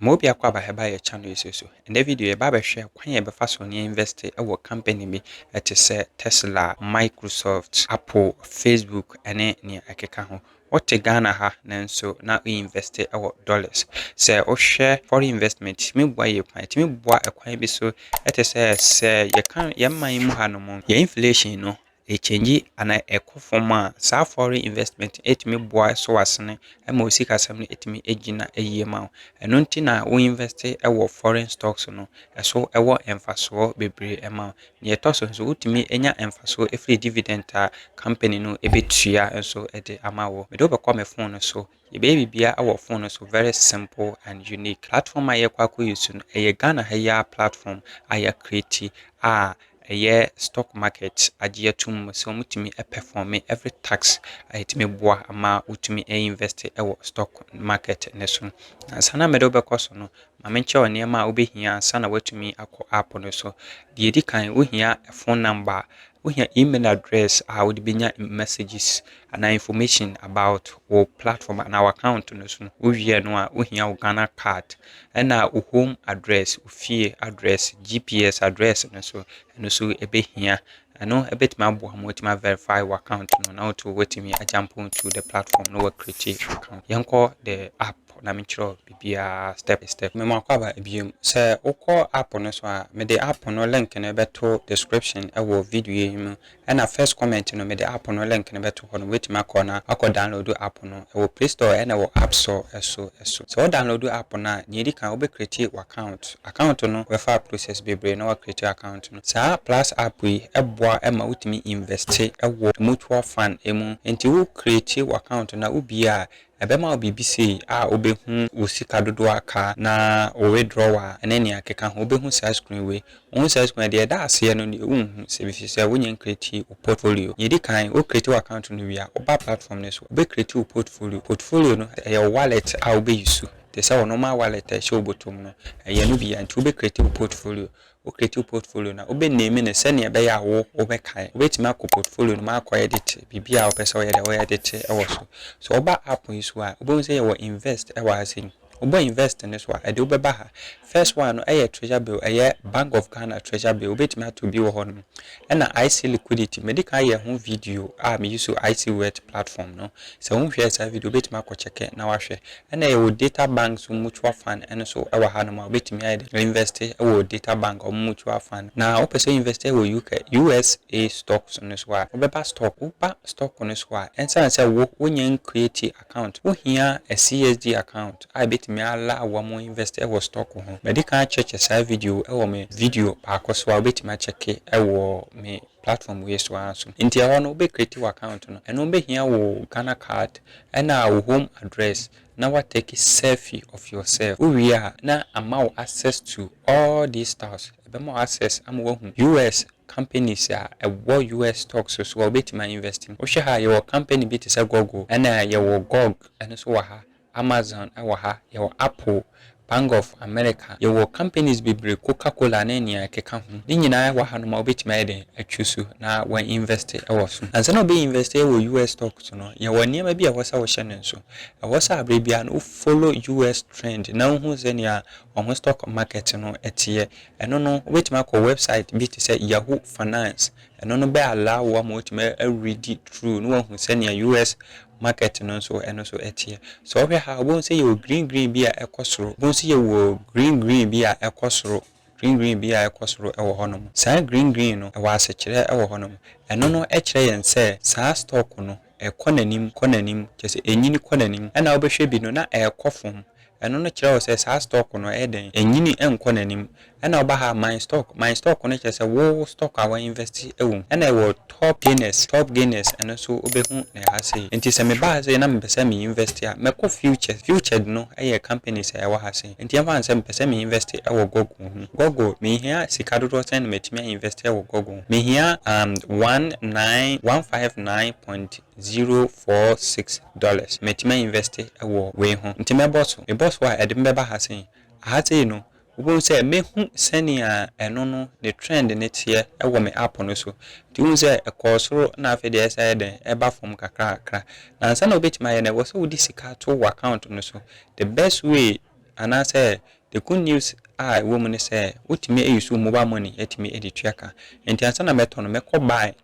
Ma obi akɔ aba hɛ ba yɛ channel yi so so. Ɛndɛ video yɛba abɛhwɛ kwan a yɛbɛfa so ne invest wɔ company bi te sɛ Tesla, Microsoft, Apple, Facebook ne nea ɛkeka ho. Wote Ghana ha nanso na wo invest wɔ dollars. Sɛ wohwɛ foreign investment ɛtumi boa yie paa. Ɛtumi boa kwan bi so te sɛ sɛ yɛka yɛn man yi mu ha nom yɛn inflation no ɛkyɛngyi anaa ɛkɔ fam a, saa foreign investment no ɛtumi boa so asene ma wo sikasɛm no ɛtumi gyina yie ma wo. Ɛno nti na wo invest wɔ foreign stocks no ɛso ɛwɔ mfasoɔ bebree ɛma wo. Deɛ ɛtɔ so nso wotumi nya mfasoɔ ɛfiri dividend a company no ɛbɛtua nso ɛde ama wo. Mede wo bɛkɔ me phone no so. Yɛbɛyɛ biribiara wɔ phone no so very simple and unique. Platform a yɛkɔ akɔ use no ɛyɛ Ghana ha yi ara platform a yɛ create a ɛyɛ stock market agye atum mu sɛ wɔtumi perform every tax a ɛtumi boa ma wotumi invest wɔ stock market no so. Ansa na mede wo bɛkɔ so no, ma menkyerɛ wo nneɛma a wobɛhia ansa na woatumi akɔ app no so. Deɛ ɛdi kan, wohia phone number, wohia email address a wode bɛnya messages anaa information about wo platform anaa w'account no so no, wowie no a, wohia wo Ghana card ɛna wo home address, wo fie address, GPS address no so, ɛno so ɛbɛhia. Ɛno ɛbɛtumi aboa ma watumi verify w'account no na woto watumi agyampo to the platform na wakriti account. Yɛnkɔ the app na menkyerɛ biribiara step by step. Mema akɔ aba biom. Sɛ wokɔ app no so a, mede app no link no bɛto description ɛwɔ video yi mu Ɛna first comment no mede app no link no bɛto hɔ nom wobɛtumi akɔ na akɔ download app no ɛwɔ play store ɛna ɛwɔ app store so so sɛ wo download app no a nea ɛdi kan wobɛ create wo account account no bɛfa process bebree na wa create account no saa plus app yi ɛboa ma wotumi invest wɔ mutual fund mu nti wo create wo account no a wo bue a Ɛbɛma wo biribi sei a wobɛhu wo sika dodoɔ a aka na wo withdrawal ne nea ɛkeka ho. Wobɛhu saa screen wei. Wohu saa screen a, deɛ ɛda aseɛ no deɛ wonhu ɛfiri sɛ wonyɛ ncreate wo portfolio. Deɛ ɛdi kan, wo create w'account no wie a, woba platform no so, wobɛ create wo portfolio. Portfolio no, ɛyɛ wo wallet a wobɛ use te sɛ wo normal wallet a ɛhyɛ wo bɔtɔ mu no. Ɛyɛ ɛno bi a nti wobɛ create wo portfolio. wokreate wo portfolio no a, wobɛ name no sɛdeɛ ɛbɛyɛ a wo wobɛkae. Wobɛtumi akɔ portfolio no mu akɔ edit biribi a wopɛ sɛ woyɛ deɛ wo edit wɔ so. Sɛ woba app yi so a, wobɛhu sɛ yɛwɔ invest wɔ ha sei. Wobɔ invest no so a, ɛde wobɛba ha. First one no yɛ treasure bill, ɛyɛ Bank of Ghana treasure bill. Wobɛtumi ato bi wɔ hɔ nom. Ɛna IC liquidity, medi kan ayɛ ho video a me use IC wet platform no. Sɛ wonhwɛɛ saa video, wobɛtumi akɔ kyɛkɛ na wahwɛ. Ɛna yɛwɔ data bank so mutual fund ɛno so ɛwɔ ha nom a wobɛtumi ayɛ dɛ invɛste ɛwɔ data bank ɔmo mutual fund. Na wopɛ sɛ invɛste ɛwɔ UK, USA stocks no so a, wobɛba stock, woba stock no so a, ɛnsiane sɛ wo wonyɛ nkreati account, wohia a CSD account a ɛbɛtumi a allow wo ama invɛste ɛwɔ stock ho. Madikan akyɛkyɛ saa video ɛwɔ me video baako so a wobɛtumi akyɛke ɛwɔ me platform wei so ara so. Nti ɛhɔ no wo bɛ create wo account no, ɛno bɛhia wo Ghana card ɛna wo home address na wa take selfie of yourself. Wo wie a na ama wo access to all these stars, ɛbɛma wo access ama wahu US companies a ɛwɔ US stocks so a wobɛtumi a invest mu. Wo hwɛ ha a yɛwɔ company bi te sɛ Google ɛna yɛwɔ Gog ɛno nso wɔ ha Amazon wɔ ha, yɛwɔ Apple, Bank of America, yɛwɔ companies bebree, Coca Cola ne nea ɛkeka ho. Ne nyinaa wɔ hanom a wobɛtumi ayɛ dɛn atwu so na wa invest wɔ so. Ansa na wobɛ invest wɔ US stock so no, yɛwɔ nneɛma bi a ɛwɔ sɛ wohyɛ no nso. Ɛwɔ sɛ aberɛ biara no wo follow US trend na wohu sɛnea wɔn ho stock market no teɛ. Ɛno no wobɛtumi akɔ website bi te sɛ Yahoo Finance, ɛno no bɛ allow wo ama woatumi a readi through na woahu sɛnea US market no nso ɛno nso ɛteɛ. Sɛ wohwɛ ha wobɛhu sɛ yɛwɔ green green bi a ɛkɔ soro. Wobɛhu sɛ yɛwɔ green green bi a ɛkɔ soro, green green bi a ɛkɔ soro wɔ hɔnom. Saa green green no ɛwɔ asekyerɛ wɔ hɔnom. Ɛno no kyerɛ yɛn sɛ saa stock no ɛkɔ n'anim kɔ n'anim, kyerɛ sɛ ɛnyini kɔ n'anim. Ɛna wobɛhwɛ bi no na ɛkɔ fam, Ɛno no kyerɛ wo sɛ saa stock no ɛyɛ dɛn? Ɛnyini nkɔ n'anim. Ɛna woba ha my stock, my stock no kyerɛ sɛ wo stock a wa invest wɔ mu. Ɛna ɛwɔ top gainers, top gainers ɛno nso wobɛhu no ɛha sei. Nti sɛ meba ha sei na mepɛ sɛ me invest a, mɛkɔ futures. Futures no ɛyɛ companies a ɛwɔ ha sei. Nti ɛmfa no sɛ mepɛ sɛ me invest wɔ Google ho. Google, mehia sika dodoɔ sɛn na matumi a invest wɔ Google ho? Mehia um one nine, one five nine point zero four six dollars metumi a invest wɔ wei ho nti mɛbɔ so mebɔ so a ɛde me bɛba ha sei aha sei no wobɛhu sɛ mɛhu sɛnea ɛno no ne trend no teɛ wɔ me app no so nti wohu sɛ ɛkɔɔ soro na afei deɛ ɛsan yɛ dɛn ɛba fam kakra kakra na ansa na wobɛtumi ayɛ no ɛwɔ sɛ wode sika to wo account no so the best way anaasɛ the good news a ɛwɔ mu ne sɛ wotumi ayi so mobile money atumi de tua ka nti ansa na mɛtɔ no mɛkɔ buy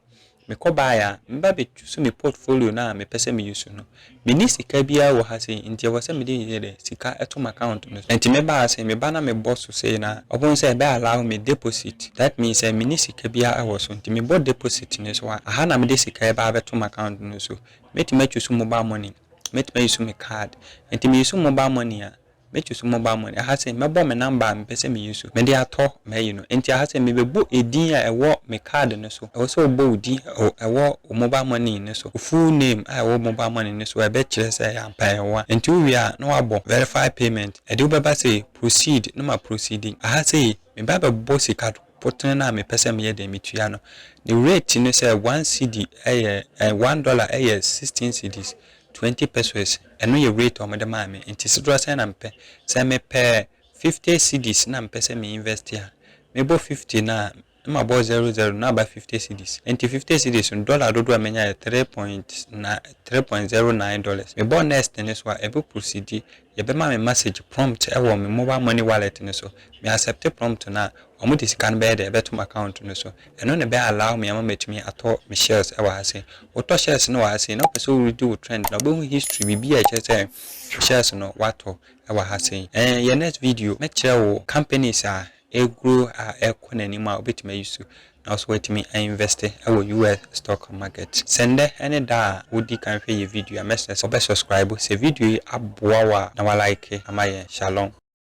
Mekɔ baeɛ a, meba bɛtwusu me portfolio no a mepɛ sɛ meyusu no. Menni sika biara wɔ ha sei, nti ɛwɔ sɛ mede yɛ dɛ, sika to m'account no so. Nti mebaa ha sei, meba na mebɔ so sei na ɔbohu sɛ bɛ allow me deposit. That means sɛ menni sika biara wɔ so, nti mebɔ deposit no so a, aha na mede sika yi baa bɛto m'account no so. Mɛtumi atwusu mobile money, mɛtumi ayusu me card. Nti meyusu mobile money a, Mɛtu so mobile money. Aha sei, mɛbɔ me number a mepɛ sɛ meyi so, mede atɔ m'ayi no. Enti aha sei, mebɛbɔ edin a ɛwɔ me card no so. Ɛwɔ sɛ wobɔ wo din a ɛwɔ wo mobile money no so, wo full name a ɛwɔ wo mobile money no so a ɛbɛkyerɛ sɛ ampa ɛyɛ wo a. Enti wowie a, na woabɔ verify payment. Ɛde wobɛba sei, proceed, na ma proceed. Aha sei, meba abɛbɔ sika potene no a mepɛ sɛ meyɛ dɛn metua no. Ne rate no sɛ one cedi yɛ, one dollar yɛ sixteen cedis. Twenty pesewas, ɛno yɛ rate a wɔde maa me, nti sedoɔ sɛn na mepɛ. Sɛ mepɛ fifty cedis na mepɛ sɛ me invest a, mebɔ fifty no a, na mabɔ zero zero na aba fifty cedis. Nti fifty cedis no, dollar dodoɔ a menya yɛ three point nine, three point zero nine dollars. Mebɔ next no so a, ɛbɛ prosidi Yɛbɛma me masage prompt wɔ me mobile money wallet no so. Me accept prompt no a, wɔn de sika no bɛyɛ dɛn ɛbɛto m'account no so. Ɛno na ɛbɛ allow me ama matumi atɔ me shares wɔ ha sei. Wotɔ shares no wɔ ha sei na wopɛ sɛ wo read wo trend na wobɛhu history biribi a ɛkyerɛ sɛ shares no woatɔ wɔ ha sei. Ɛn yɛn next video mɛkyerɛ wo companies a ɛguro a ɛkɔ n'anim a wobɛtumi ayi so na nso watumi a invɛste wɔ US stock market. Sɛ nnɛ ne da a wodi kan hwɛ yɛ video a mɛsrɛ sɛ wobɛ subscribe sɛ video yi aboa wo a na wa like ama yɛn. Shalom.